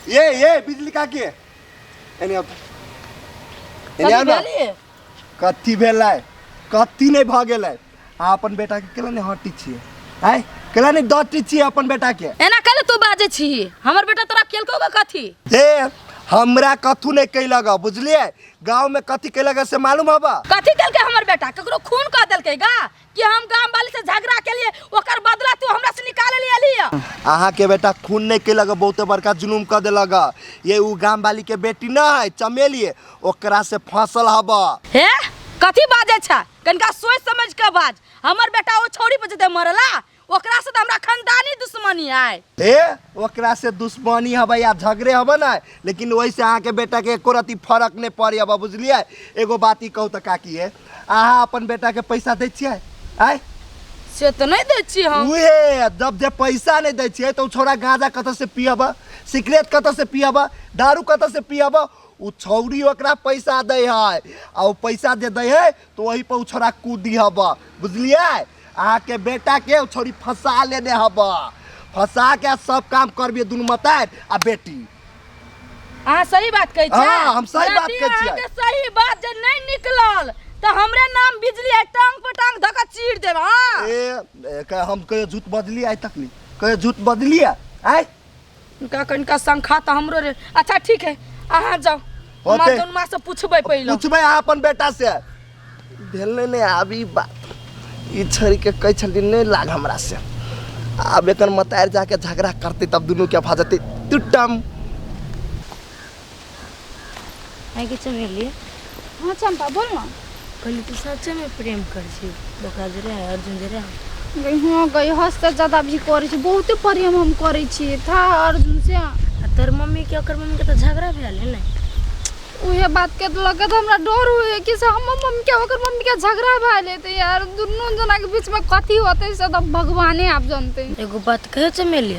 ये ये बिजली का के एने अब एने कथी आउ ना भेलियै? कथी भेलै कथी नहि भऽ गेलै अहाँ अपन बेटाके केला नहि हटी छियै आँय केला नहि डटी छियै अपन बेटाके एना कैले तू बाजै छी हमर बेटा तोरा केलकौ गे कथी हे हमरा कथू नहि कैलक बुझलियै गाँवमे कथी कैलक से मालूम हबऽ कथी केलकै हमर बेटा ककरो खून कऽ देलकै गा कि हम गांव वाली से झगड़ा के लिए ओकर बदला तू हमरा से निकाल ले अली है अहाँ के बेटा खून नहीं कैलक बहुते बड़का जुलूम कर दिलक ये उ गाम वाली के बेटी न है चमेलिए ओकरा से फसल हब हे कथी बाजे छा कनका सोच समझ के बाज हमर बेटा ओ छोरी पर जते मरला ओकरा से तो हमरा खानदानी दुश्मनी है हे ओकरा से दुश्मनी हबै या झगड़े हबै ना लेकिन ओहिसे अहाँके बेटाके एको रत्ती फरक नहि पड़ै हबै बुझलियै एगो बात ई कहू तऽ काकी हे अहाँ अपन बेटाके पैसा दै छियै आँय से तो नहीं दे छी हम उहे जब जे पैसा नहीं दै छियै तऽ उ छौड़ा गांजा कतऽ से पियब सिगरेट कतऽ से पियब दारू कतऽ से पियब उ छौड़ी ओकरा पैसा दै है आ उ पैसा जे दै है तो वही पर छोरा कूदी हब बुझलिए अहाँ के बेटा के छोरी फंसा लेने हब फंसा के सब काम करबिए दुनू मतार आ बेटी अहाँ सही बात कहै छियै हाँ, हम सही बात कहै छियै। अहाँके सही बात जे नहि निकलल तऽ हमरे नाम बिजली है टांग पर टांग धऽ कऽ चीर देब हाँ ए, ए, कहे हम कहियो झूठ बजलिए आइ तक नहीं कहियो झूठ बजलिए आइ इनका कनिका संखा तऽ हमरो रे अच्छा ठीक है अहाँ जाउ हमार होतै। जौन माँ से पूछबै पहिले पूछबै अहाँ अपन बेटा से भेलै नहि आब ई बात ई छोड़ि के कहै छलियै नहि लाग हमरा से आब एकर मतार जाके झगड़ा करतै तब दुनू के भा जेतै टुटम है कि चमेली हाँ चंपा बोल ना कहली तू सच्चे में प्रेम कर छी देखा जे रहे अर्जुन जे रहे गई हाँ गई हस से ज्यादा भी करे छी बहुते प्रेम हम करे छी था अर्जुन से आ तोर मम्मी के ओकर मम्मी के तो झगड़ा भेल है ना उहे बात के तो लगे तो हमरा डर हुए कि से हमर मम्मी के ओकर मम्मी के झगड़ा भए लेते यार दुनू जना के बीच में कथी होते से तो भगवाने आप जानते एगो बात कहे चमेली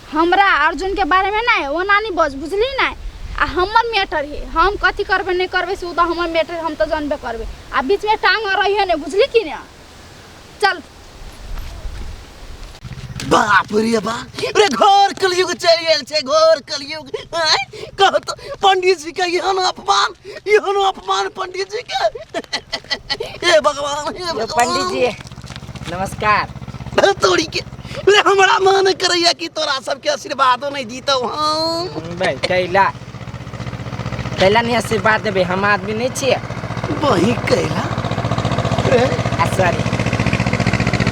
हमरा अर्जुनके बारेमे नहि ओना नहि बज बुझली नहि आ हमर मैटर हे हम कथी करबै नहि करबै से ओ तऽ हमर मैटर हम तऽ जानबे करबै आ बीचमे टांग रहिए नहि बुझली कि ने चल बाप रे बाप रे घोर कलयुग चलि गेल छै घोर कलयुग आँय? कहू तऽ पंडित जी के एहन अपमान एहन अपमान पंडित जी के हे भगवान हे भगवान पंडित जी नमस्कार तोरी के रे हमरा मन करैया कि तोरा सबके आशीर्वादो नहीं जीतौ हम भाई कैला कैला नहीं आशीर्वाद देबे हम आदमी नहीं छिए वही कैला रे आ सॉरी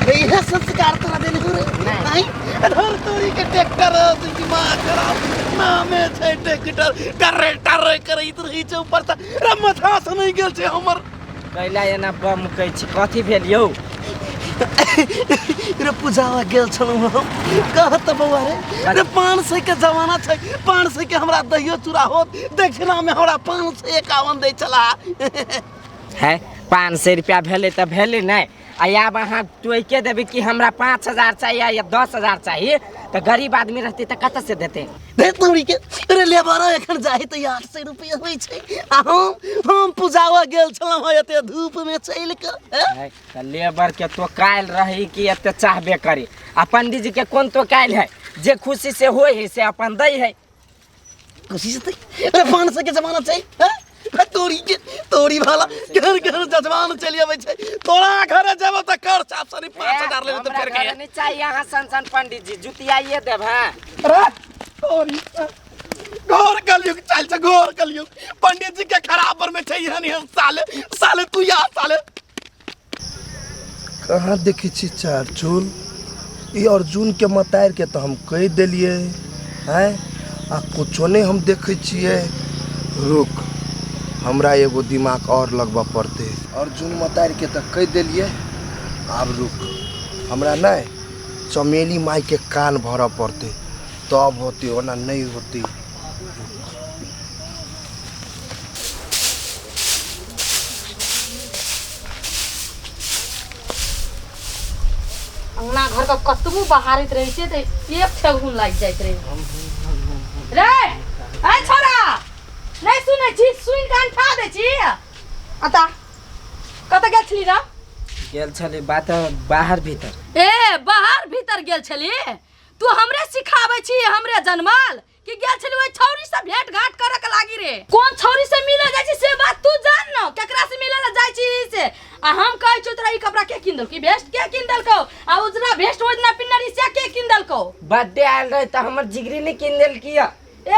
रे इहे संस्कार तोरा देने हो रे नहीं। नहीं धर तोरी के ट्रैक्टर से दिमाग खराब नामे छै ट्रैक्टर टरे टरे करैत रही छै ऊपर से रे माथा से नहीं गेल छै हमर कैला एना बम कहै छी कथी भेल यौ रे पूजावा गेल छलहुँ हम कह तऽ बौआ रे रे पाँच सौ के जमाना छै पाँच सौ के हमरा दहियो चूड़ा होत दक्षिणा में हमरा पाँच सौ एकावन दै छला है पाँच सौ रुपया भेलै तऽ भेलै नहि आब अहाँ टोके देबै कि हमरा पाँच हजार चाही या दस हजार चाही तऽ गरीब आदमी रहतै तऽ कतऽ से देतै अरे लेबर एखन जाइ तऽ आठ सए रुपये होइ छै आ हम हम पूजावा गेल छलहुँ हँ एते धूप में चलि कऽ तऽ लेबर के तो काल्हि रही कि एते चाहबे करी आ पंडीजी के कोन तो काल्हि है जे खुशी से होइ है से अपन दै है खुशी से अरे पान से के जमाना छै हैं? आ तोरी के तोरी वाला घर घर जजमान चलि अबै छै तोरा घरे जेबो त कर छाप सनी 5000 लेबे त हमरा फेर घरे के नहीं चाहिए यहाँ सन सन पंडित जी जुतियाइए देव हैं अरे तोरी घोर कलयुग चल छै घोर कलयुग पंडित जी के खराब पर में छै हनी हम साले साले तू या साले कहाँ देखै छी चार चूल ई अर्जुनके मतारिके तऽ हम कहि देलियै आँय आ कुछो नहि हम देखै छियै रुक हमरा एगो दिमाग आओर लगबऽ पड़तै अर्जुन मतारिके तऽ कहि देलियै आब रुक हमरा नहि चमेली मायके कान भरऽ पड़तै तब होतै ओना नहि होतै अंगना घर का कतबो बहारत रहे छै तऽ एक ठेहुन लागि जाइत रहे रे ऐ छोरा नहि सुनै छी सुनि कऽ अंठा दै छी अता कतऽ गेल छली ना गेल छली बात बाहर भीतर ए बाहर भीतर गेल छली तू हमरे सिखाबै छी हमरे जनमल कि गेल छली ओइ छौरी से भेंट घाट करे के लागी रे कोन छौरी से मिले जाइ छी से बात तू जान न केकरा से मिले ला जाइ छी से आ हम कहै छी तोरा ई कपड़ा के किन देलकौ ई वेस्ट के किन देलकौ आ उजरा वेस्ट ओजना पिन्ने रही से के किन देलकौ बर्थडे आयल रहे तो हमर जिगरी ने किन देलकी है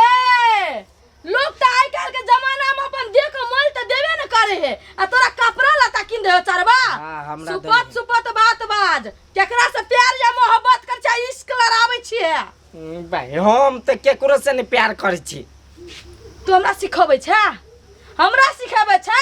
ए लोग तो आइ काल के जमाना में अपन देह के मोल तो देवे न करे है आ तोरा कपड़ा लता किन दे चरवा हाँ, हमरा दे सुपत दे। सुपत बात बाज केकरा से प्यार या मोहब्बत कर छै इश्क लड़ावे छिए हम्म, भाई हम तो केकरो से नहीं प्यार करे छी तू हमरा सिखबै छै हमरा सिखबै छै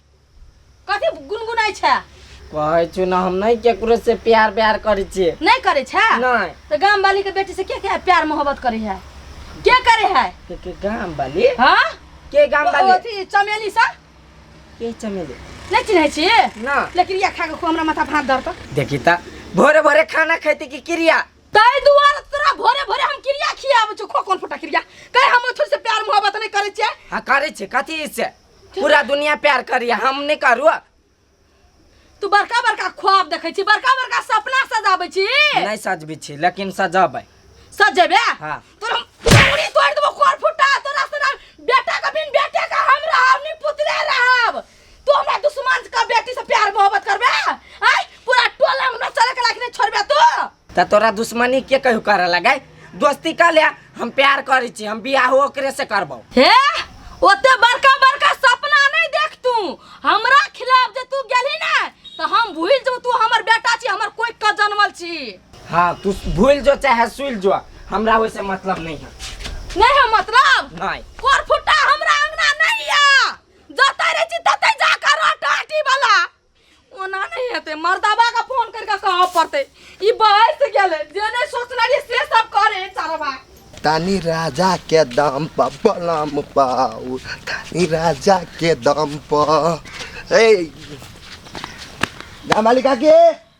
कथी गुनगुनाइ छै कहै छु ना हम नहीं केकरो से प्यार व्यार करै छियै नहीं करे छै नहीं तो गांव वाली के बेटी से के के प्यार मोहब्बत करे है के करे है के के गाम वाली हां के गाम वाली अथी चमेली सा के चमेली नहीं चिन्है छी ना लेकिन या खा के खूब हमरा माथा भात दर्द देखी ता भोरे भोरे खाना खाइते की क्रिया तै दुआर तोरा भोरे भोरे हम क्रिया खियाब छु खो कोन फटा क्रिया कहे हम थोड़ी से प्यार मोहब्बत नहीं करे छै हाँ करे छे कथी से पूरा दुनिया प्यार करिए हम नहीं करू तू बड़का बड़का ख्वाब देखे छी बड़का बड़का सपना सजाबे छी नहीं सजबी छी लेकिन सजबे सजेबे हाँ। तोरा पूरी तोड़ देबो कोर फुटा तोरा तोरा बेटा के बिन बेटे के हम रहब नहीं पुतले रहब तू हमरा दुश्मन के बेटी से प्यार मोहब्बत करबे आई पूरा टोला में चले के लायक नहीं छोड़बे तू त तोरा दुश्मनी के कहू करे लगे दोस्ती कर ले हम प्यार करे छी हम बियाह ओकरे से करबो हे ओते बड़का बड़का सपना नहीं देख तू हमरा खिलाफ जे तू गेली ना तो हम भूल जो तू हमर बेटा छी हमर कोई का जनमल छी हाँ तू भूल जो चाहे सुल जो हमरा वैसे मतलब नहीं है नहीं है मतलब नहीं कोर फुटा हमरा अंगना नहीं या जतै रे छी ततै जाकर रोटा आटी वाला ओना नहीं हेतै मर्दाबा का फोन करके कह पड़तै ई बाहर से गेलै जे नहीं सोचना रही से सब करे सारा भाई तानी राजा के दम पर बलम पाऊ तानी राजा के दम पर ए ना मालिका के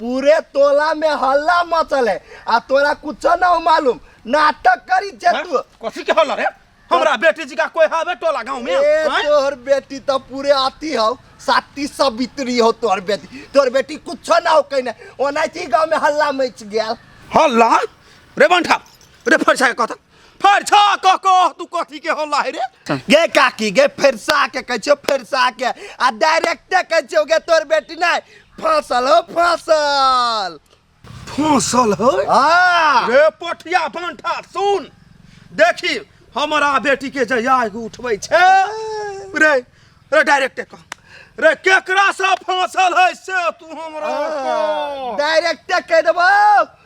पूरे टोला में हल्ला मचल है आ तोरा कुछ ना मालूम नाटक करी छे तू कथी के हल्ला रे हमरा बेटी जी का कोई हवे टोला गांव में ए आँय? तोहर बेटी तो पूरे आती हो साती सवित्री हो तोहर बेटी तोहर बेटी कुछ ना हो कहने ओनाइती गांव में हल्ला मच गया हल्ला रे बंठा रे फरसा के कथा फरसा कह कह तू कथी के होला है रे गे काकी गे फरसा के कहै छौ फरसा के आ डायरेक्ट कहै छौ गे तोर बेटी नहीं फसल हो फसल फसल हो हां रे पोठिया बांठा सुन देखी हमारा बेटी के जया एगो उठबै छै रे रे डायरेक्ट कह रे केकरा से फसल है से तू हमरा डायरेक्ट कह देबो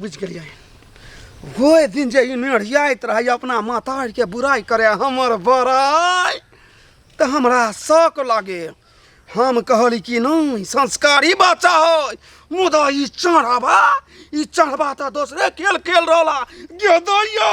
बुझि गेलियै ओहि दिन जे ई नेढ़ियाइत रहै अपना माताके बुराइ करै हमर बड़ाइ तऽ हमरा शौक लागे हम कहली कि नहि संस्कारी बच्चा है मुदा ई चढ़ावा ई चढ़ावा तऽ दोसरे खेल खेल रहला गेदैयो